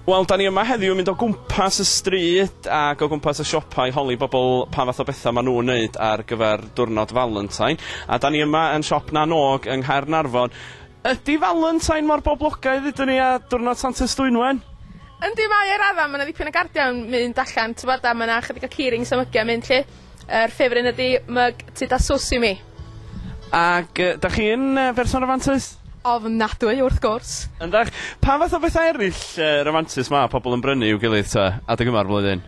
Wel, 'da ni yma heddiw yn mynd o gwmpas y stryd ac o gwmpas y siopa i holi bobl pa fath o bethau maen nhw'n wneud ar gyfer diwrnod Valentine. A 'da ni yma yn siop Na Nôg yng Nghaernarfon. Ydy Valentine mor boblogaidd hyd yn ni a diwrnod Santes Dwynwen? Yndi mae o i radda, ma' 'na ddipyn o gardiau'n mynd allan t'mod a ma' 'na chydig o keyring samygia'n mynd 'lly. Yr ffefryn ydi mug tŷ da Sosimi. Ac yy, 'dach chi yn yy berson rafantus? Ofnadwy, wrth gwrs! Yndach? Pa fath o bethau eryll yy rafantus ma' pobl yn brynu i'w gilydd ta, adeg yma'r flwyddyn?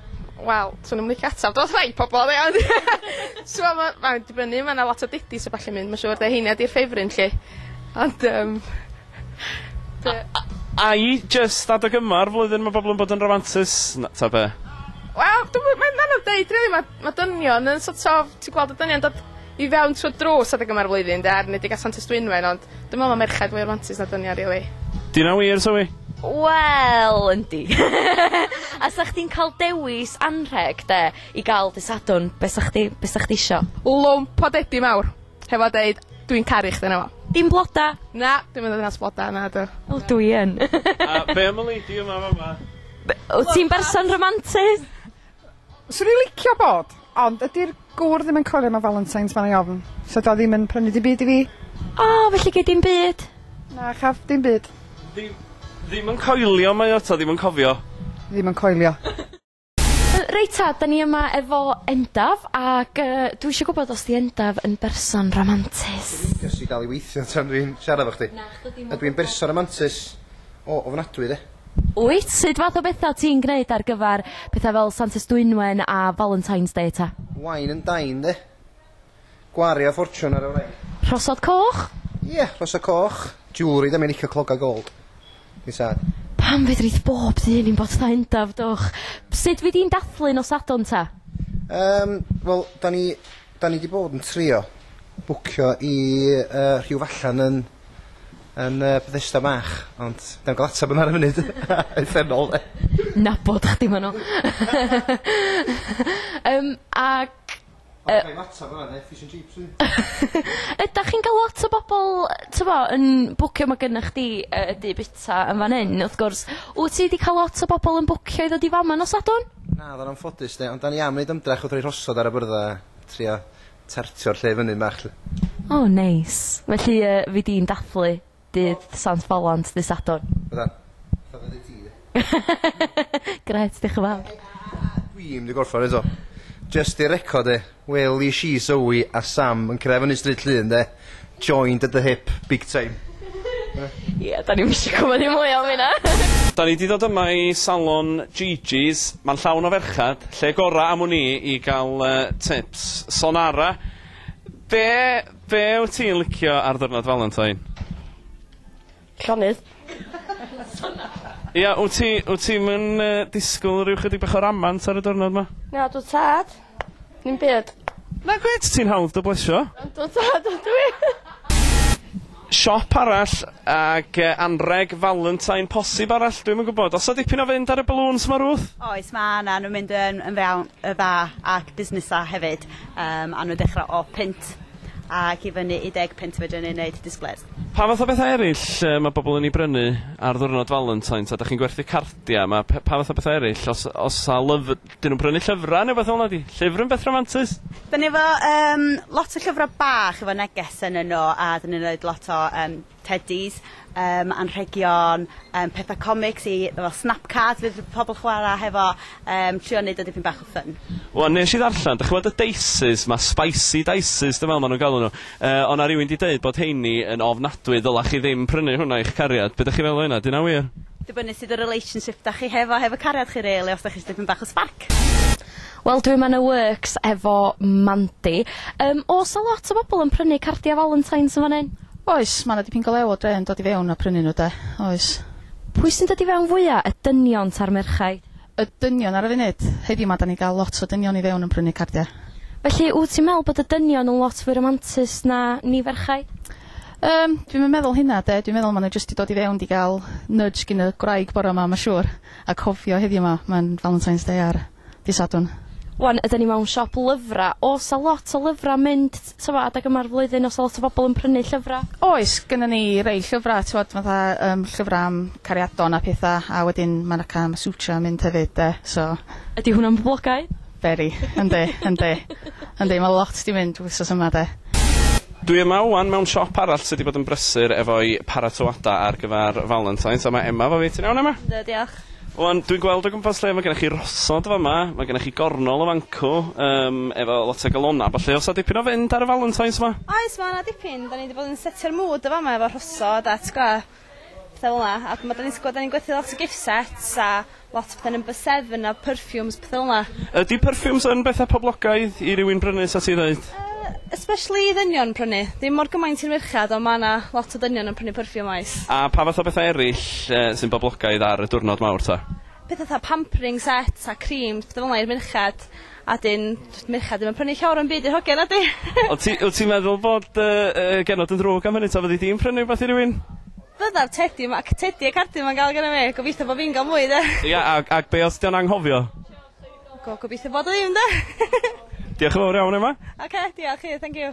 Wel, 'swn i'm yn licio ateb dros rai pobl oddi ond t'mo' ma' mae'n dibynnu ma' 'na lot o didis a ballu mynd ma' siŵr 'de heina 'di'r ffefryn 'lly. Ond yym Be'? A- a- a i jyst adeg yma o'r flwyddyn ma' bobol yn bod yn rafantus na- ta be'? Wel dwi'm yn mae'n anodd deud rili ma' ma' dynion yn so't of ti gweld y dynion dod i fewn trw'r drws adeg yma o'r flwyddyn 'de ar enedig ar Santes Dwynwen ond dwi me'wl ma' merched fwy rafantus na dynion rili. 'Di wnna wir Zoe? Wel yndi. A 'sach chdi'n ca'l dewis anrheg 'de i ga'l dy Sadwrn be' 'sach chdi be' 'sach chdi isio? Lwmp o dedi mawr. Hefo deud dwi'n caru chdi na fo. Dim bloda! Na, dim yn ddinas bloda, nadw. O dwi yn. A be' am y lady yma yn fama? Be- wt ti'n berson romantus? Swn i licio bod, ond ydi'r gŵr ddim yn coelio mewn Valentines mae'n ofn, so 'di o ddim yn prynu dim byd i fi. O, felly gei dim byd? Na chaf, dim byd. Ddi- ddim yn coelio mae o 'ta ddim yn cofio? Ddim yn coelio. Reit ta, da ni yma efo Endaf, ac yy dwi isio gwbod os 'di Endaf yn berson ramantus? Dwi'n licio ti dal i weithio tan dwi'n siarad efo chdi. Na, chdi 'di mor boblogaidd. Ydw i'n berson ramantus? O, ofnadwy de. Wyt, sud fath o betha ti'n gneud ar gyfar petha fel Santes Dwynwen a Valentine's Day ta? Wine and dine de. Gwario ffortiwn ar y wraig. Rhosod coch? Ie, rhosod coch. Jewelry, 'da mi'n licio clogau gold. Fi'n sad. Pam fedrith bob dyn i'm bod tha Endaf, dwch? Sut wy di'n dathlu nos Sadwrn ta? Yym, wel, 'da ni, 'da ni 'di bod yn trio bwcio i yy rhyw fallan yn yn yy Bethesda Bach, ond 'da ni'm ga'l atab yna ar y funud. Uffernol 'de? Nabod chdi ma' nw. Yym, ac Yy. Ydach chi'n ga'l lot o bobol yy t'mo' yn bwcio ma' gynnych chdi yy y du bita yn fan 'yn wrth gwrs wt ti 'di ca'l lot o bobol yn bwcio i ddod i fama nos Sadwrn? Naddo yn anffodus 'de ond 'dan ni am neud ymdrech wrth roi rhosod ar y byrddau a trio tartio'r lle fyny bach 'lly. O neis. Felly yy fi di'n dathlu dydd Sant Fowlent ddydd Sadwrn. Bydda. Fatha fyddi ti de. Grêt, diolch yn fawr. Dwi'm 'di gorffan eto. Jyst i record e, welish i Zoe a Sam yn cyrraedd fyny Stryd Llŷn 'de? Joined at the hip, big time. Ie, 'dan ni'm isio gwbod dim mwy am hynna! Da ni 'di dod yma i salon Gigi's, ma'n llawn o ferchad, lle gora am wn i i ga'l yy tips. Sonara, be' Be wyt ti'n licio ar ddiwrnod Valentine? Llonydd. Ia, wyt ti wyt ti'm yn yy disgwl ryw chydig bach o ramant ar y diwrnod 'ma? Na dw tad. Dim byd. Nag wyt, ti'n hawdd dy blesio. Yndw tad ydw i. Siop arall ag yy anreg Valentine posib arall dwi'm yn gwbod. O's 'na dipyn o fynd ar y balŵns 'ma Ruth? Oes ma' 'na nw'n mynd yn yn fewn yy dda ac busnesa' hefyd. Yym a nhw'n dechrau o punt ac i fyny i deg punt fedrwn ni wneud displays. Pa fath o bethau eraill yy ma' bobl yn 'u brynu ar ddiwrnod Valentine's a 'dach chi'n gwerthu cardiau ma' pe- pa fath o bethau eraill os os 'sa lyf- 'dyn nhw'n prynu llyfrau neu wbeth fel 'na ydi llyfr yn beth rhamantus? Dan ni efo yym lot o llyfrau bach efo neges ynnyn nhw a 'dyn ni'n roid lot o yym Teddies, yym anrhegion, yym petha comics i fel snapcards fydd pobl chwara hefo, yym trio neud o dipyn bach o fun. Wan nesh i ddarllan, dych ch'mod y dices ma, spicy dices dwi me'wl ma' nw'n galw nw, yy o' 'na rywun 'di deud bod rheini yn ofnadwy ddyla chi ddim prynu hwnna i'ch cariad, be' dych chi feddwl o hynna, 'di hynna wir? Dibynnu sud y relationship 'da chi hefo hefo cariad chi rili os 'da chi isio dipyn bach o sbarc. Wel dwi'm yn y works efo Mandy. Yym o's 'na lot o bobl yn prynu cardia Valentine's yn fan 'yn? Oes, ma' 'na dipyn go lew o dre yn dod i fewn a prynu nhw 'de, oes. Pwy sy'n dod i fewn fwya', y dynion ta'r merchaid? Y dynion ar y funud. Heddiw 'ma 'dan ni'n ga'l lot o dynion i fewn yn prynu cardia. Felly wt ti'n me'wl bod y dynion yn lot fwy ramantus na ni ferchaid? Yym dwi'm yn meddwl hynna 'de, dwi'n meddwl ma' nhw jyst 'di dod i fewn 'di ga'l nudge gin y gwraig bora 'ma ma' siŵr. A cofio heddiw ma, mae'n Valentine's Day ar Dydd Sadwrn. Wan yda ni mewn siop lyfra, o's a lot o lyfra mynd t- t'mo' adeg yma'r flwyddyn o's a lot o bobol yn prynu llyfra? Oes, gynnon ni rei llyfra t'mod fatha yym llyfra am cariadon a petha a wedyn ma' 'na cân Sucha yn mynd hefyd 'de so. Ydi hwnna'n boblogaidd? Very. Yndi yndi. Yndi ma' lot 'di mynd wsos yma 'de. Dwi yma ŵan mewn siop arall sy 'di bod yn brysur efo'i paratoada ar gyfar Valentine's a ma' Emma 'fo fi. Ti'n iawn Emma? Yndw diolch. Ŵan dwi'n gweld o gwmpas lle ma' gennych chi rosod fa' 'ma ma' gennych chi gornol o fancŵ yym efo lot o galona a ballu o's 'a dipyn o fynd ar y Valentine's 'ma? Oes ma' 'na dipyn 'dan ni 'di bod yn setio'r mood y' fa' 'ma efo rhosod a t'gwo' Fel yna a ma' 'dan ni'n sgwad 'dan ni'n gwerthu lot o gift sets a lot o pethe number seven a perfumes pethe fel 'na. Ydi perfumes yn betha poblogaidd i rywun brynu sa ti ddeud? Yy especially i ddynion prynu. Dim mor gymaint i'r merchad on' ma' 'na lot o dynion yn prynu perfume oes. A pa fath o betha eryll yy sy'n boblogaidd ar y diwrnod mawr ta? Petha 'tha pampering sets a creams petha fel 'na i'r merched. A 'dyn, does merched ddim yn prynu llawer o'm byd i'r hogia na 'dyn? Ond ti, wyt ti'n meddwl bod dy yy genod yn ddrwg am hynny ta, fyddi di'n prynu rwbeth i rywun? Byddaf, Tedi, ma' c- Tedi a Cardi 'ma'n ga'l gynna fi, gobeithio bo' fi'n ga'l mwy 'de? Ia, ac ac be' os 'di o'n anghofio? Go- gobeithio bod o ddim 'de? Diolch yn fowr iawn Emma. Oce, diolch i chdi, thank you.